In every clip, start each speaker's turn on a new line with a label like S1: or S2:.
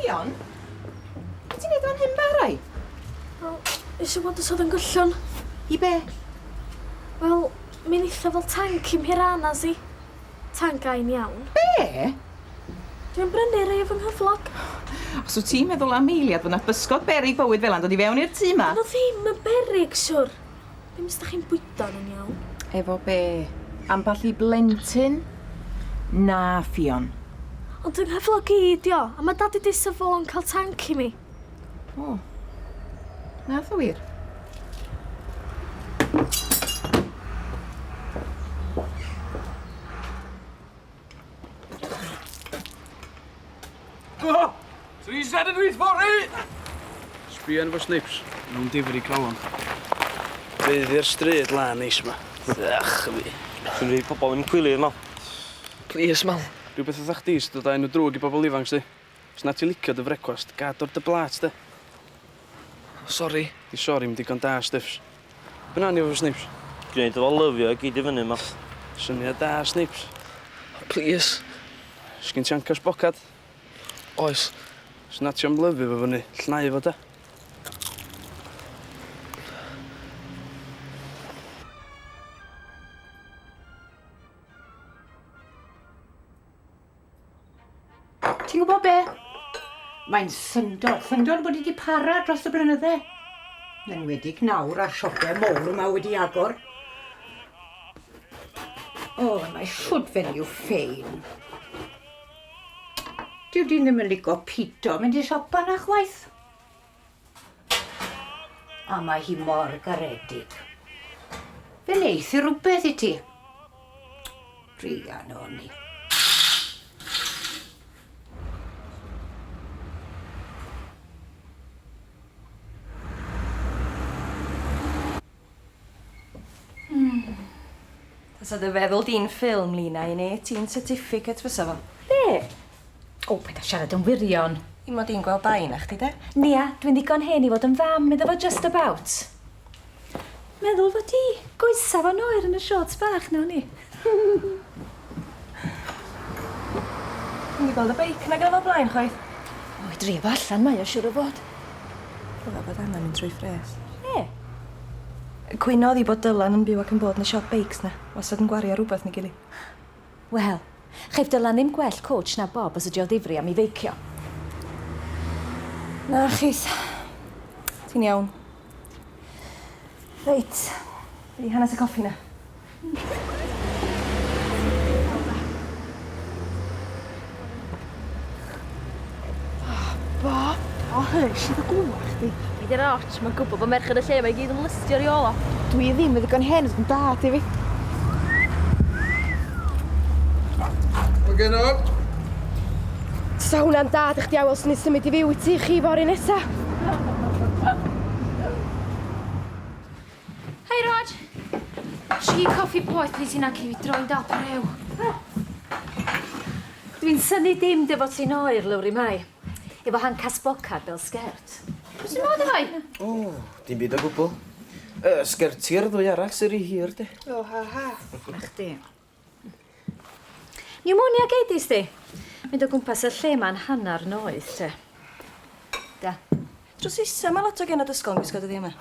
S1: Dion, beth ti'n neud o'n hyn barai? Wel, nes i weld os oedd yn gyllwn. I be? Wel, mi'n eitha fel tank i Mhiranas i. Tancau'n iawn. Be? Dwi'n brynu rhei o fy nghyflog. Os wyt ti'n meddwl am eiliad fod na bysgod beryg bywyd fel 'na'n dod i fewn i'r tŷ 'ma. Dyn nhw ddim yn beryg, siwr. Ddim os 'dach chi'n bwydo nhw'n iawn. Efo be? Ambell i blentyn? Na, Ffion. Ond yng nghyflog i 'di o, a ma' Dad 'di deud 'sa fo'n cael tanc i mi. O. Nath o wir? O! Three set and read for it! Sbian fo snips. Nhw'n difri calon. Bydd i'r stryd lan neis yma. Ach, fi. Dwi'n rhaid pobl yn cwilio yma. Please, mam. Rhywbeth oedd chdi sydd dod â enw drwg i bobl ifanc, sti. Os na ti'n licio dy frecwast, gad o'r dy blât de. Sori. Dy sori'm digon da, Stiffs. Be nawn ni efo Snipes? Gneud efo lyfio i gyd i fyny ma. Syniad da, Snipes. Plîs. Sgin ti ancash bocad? Oes. Os na ti am lyfio fo fyny, llnau fo de. Ti'n gwybod be? Mae'n syndod, syndod bod i wedi para dros y blynydde. Yn wedig nawr a'r siopau mowr yma wedi agor. O, oh, mae siwt fe'n i'w ffein. Dyw dyn ddim yn ligo pito, mynd i siopa na chwaith. A mae hi mor garedig. Fe neith i rhywbeth i ti. Rhian o ni. Hmm. Fysa dy feddwl di'n ffilm, Lina, i neu ti'n certificate fysa fo. Be? O, paid â siarad yn wirion. I mod i'n gweld dau na chdi, de? Nia, dwi'n ddigon hen i fod yn fam iddo fo just about. Meddwl fod dy goesa fo'n oer yn y shorts bach na o'n i. Dwi'm 'di gweld y beic 'na gynnai o blaen chwaith. O i drio fo allan mae o siŵr o fod. Dyle bod angan mynd trwy ffres. Lle? Yy cwyno odd 'i bod Dylan yn byw ac yn bod yn y siop beics 'na. Wastad yn gwario rwbeth neu gily. Wel, chaiff Dylan ddim gwell coach na Bob os ydi o ddifri am 'i feicio. Na chith. Ti'n iawn. Reit. Fi hanes y coffi na. Ba? O, hei, sydd y gwa chdi? Fi di'r arch, mae'n gwybod bod merched y lle mae gyd yn lystio i ola. Dwi ddim yn ddigon hen yn da, di fi. Mae gen o. Sa hwnna'n dad eich diawel sy'n ei symud i fyw i ti chi fori nesa. Hei, Rog. Tri coffi poeth, plis, hynna cyn i fi droi'n dal brew. Dwi'n synnu dim dy fod ti'n oer, Lowri Mai. Efo handcasp bocar bel sgert. Be' sy'n bod efo'i? O, dim byd o gwbwl. Yy, sgertiau'r ddwy arall sy ry hir, de. O, ha ha. A chdi? Pneumonia geidis di? Mynd o gwmpas y lle ma'n hanner noeth, te. Da. Drws isa, mae lot o genod ysgol yn gwisgo dyddiau yma.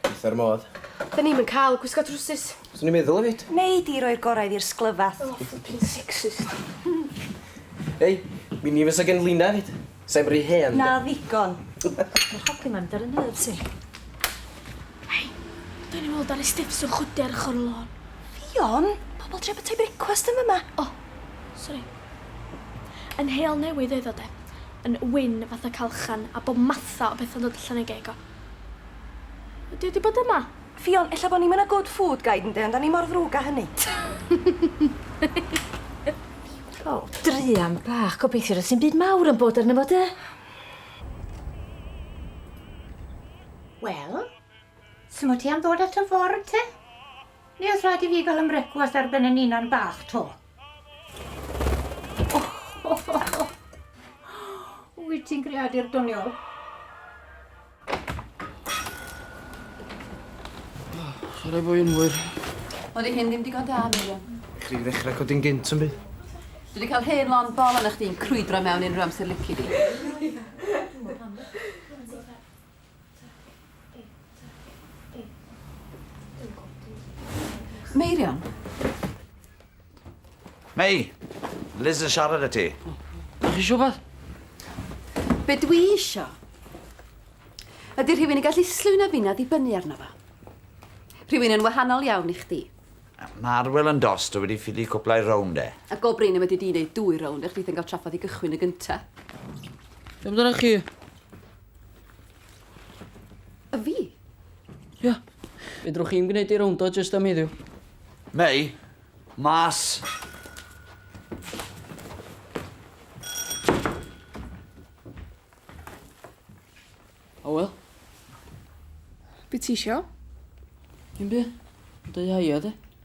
S1: Eitha'r modd. Da ni'm yn cael gwisgo trwsus. Swn i'n meddwl efyd. Nei di roi'r gorau i'r sglyfath. Oh, flipping sexist. Ei, mi ni fysa gen Lina efyd. Sef ry hen 'de? Na ddigon. Ma'r hogyn 'ma'n mynd ar 'y nerves i. Hei! Dwi newydd weld Ari Stiffs yn chwydu ar ochor y lôn. Ffion? Pobol trio bytai brecwast yn fyma. O! Sori. Yn heol newydd oedd o 'de. Yn wyn fatha calchchan a bob matha o betha'n dod allan o'i geg o. Ydi o 'di bod yma? Ffion, ella bo ni'm yn a good food guide ynde, ond 'da ni mor ddrwg a hynny. Ffion. Druan bach, gobeithio does dim byd mawr yn bod arno fo, de? Wel, simo ti am ddod ato fory te? Neu oes rhaid i fi gael 'y mrecwast ar ben 'y ninan bach 'to? Wyt ti'n greadur doniol? Chwarae fwy yn fwyr. Oeddi hyn ddim digon da, Miriam. Chdi ddechrau codi'n gynt yn byd. Dwi wedi cael hen lon bol yna chdi'n crwydro mewn unrhyw amser lici di. Meirion? Mei! Liz yn siarad â ti. Ydych chi eisiau rhywbeth? Be dwi isio ydy rhywun yn gallu slwyn a finna ddibynnu arno fo. Rhywun yn wahanol iawn i chdi. Mae Arwel yn dost, dwi wedi ffili cwplai rownd e. A go brin y wedi di wneud dwy rownd, eich byth yn cael traffath i gychwyn y gynta. Be amdanoch chi? A fi? Ia. Fedrwch chi'm gwneud i rownd o jyst am heddiw. Neu, mas. O wel. Be' ti isio? Dim by'. Deu haia de?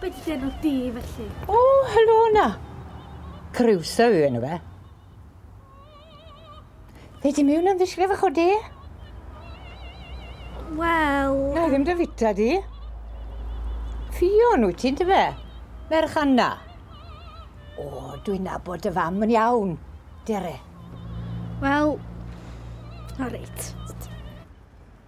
S1: Be di enw di felly? O, helo na. Crusoe yw enw fe. Fe di miwn yn ddisgrif y chwdi? Wel... Na, i ddim dy fita di. Ffion wyt ti'n dy fe? Merch Anna. O, dwi'n nabod dy fam yn iawn, Dere. Wel, o reit.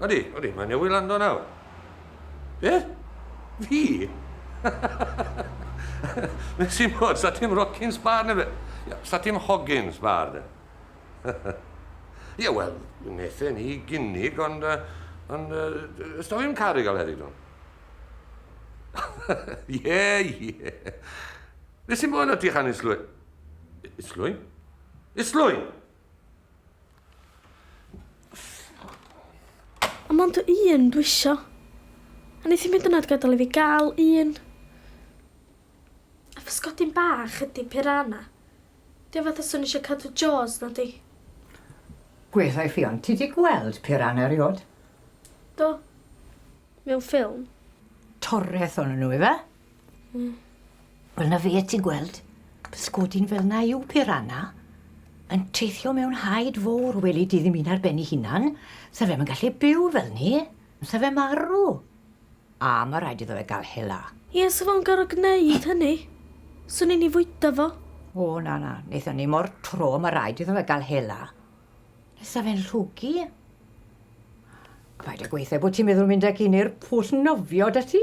S1: Odi, odi, mae newydd lando nawr. Be? Fi? Nes i'n bod, sa ti'n rockin sbar neu fe? Sa ti'n hogin sbar de? Ie, wel, nethe ni gynnig, ond... Ond... Ysdo fi'n caru gael heddi, dwi'n? Ie, ie. Nes i'n bod o ti chan islwy? Islwy? Islwy! Ond mond y un dwi isio. A neith hi'm hyd yn oed gadal i fi ga'l un. A physgodyn bach ydi piranha. Di o fatha swn i isio cadw Jaws nadi? Gweithai Ffion, ti di gweld piranha eriod? Do. mewn ffilm. Toreth o'n nhw ife? Mm. Wel na fe ti'n gweld, pysgodyn fel na yw piranha, yn teithio mewn haid fowr weli di ddim un ar ben ei hunan, sa fe'm yn gallu byw fel ni, sa fe marw. A mae rhaid iddo fe gael hela. Ie, sa fo'n gorfod gwneud hynny. Swn i'n ei fwyta fo. O na na, wnaethon ni mor tro, mae rhaid iddo fe gael hela. Sa fe'n llwgu. Paid â gweithio bod ti'n meddwl mynd ag un i'r pwll nofio da ti.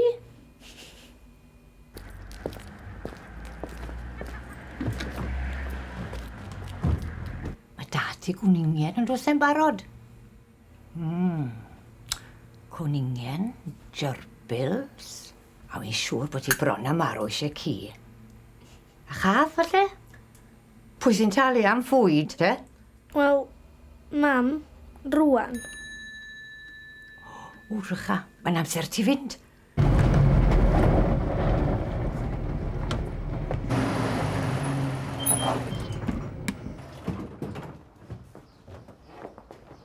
S1: Mae da ti gwningen yn rhywse'n barod. Mm. Cwningen, gerbils, a fi'n siŵr bod ti bron a marw eisiau ci. A chath falle? Pwy sy'n talu am fwyd te? Wel, mam, rwan. O, Rycha, mae'n amser ti fynd.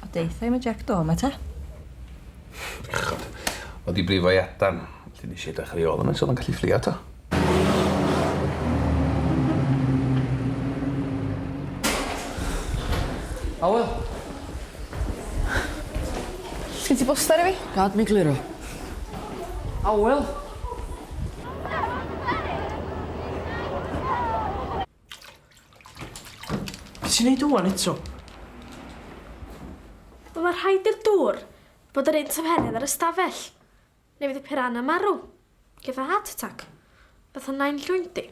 S1: O deutha i ma Jack Do ma ta. Bechod. Oedd i brifo i adan. Felly nes i edrych ar ei ôl yma, so o'n gallu fflio to. Hywel? Sgyn ti boster i fi? Gad mi gliro. Hywel? Be' ti'n neud ŵan eto? Wel ma' rhaid i'r dŵr fod yr un tymheredd â'r ystafell neu fydd y piranha marw. Geith o heart attack. Fatha nain llwyn di.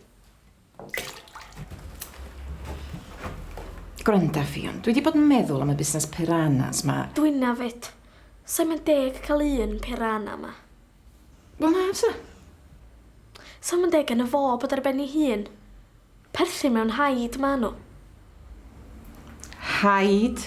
S1: Gwranda Ffion, dwi 'di bod yn meddwl am y busnes piranhas 'ma. Dwynna 'fyd. Sai'm yn deg ca'l un piranha 'ma. Wel na fysa. Sa'm yn deg geno fo bod ar ben 'i hun. Perthyn mewn haid ma' n'w. Haid?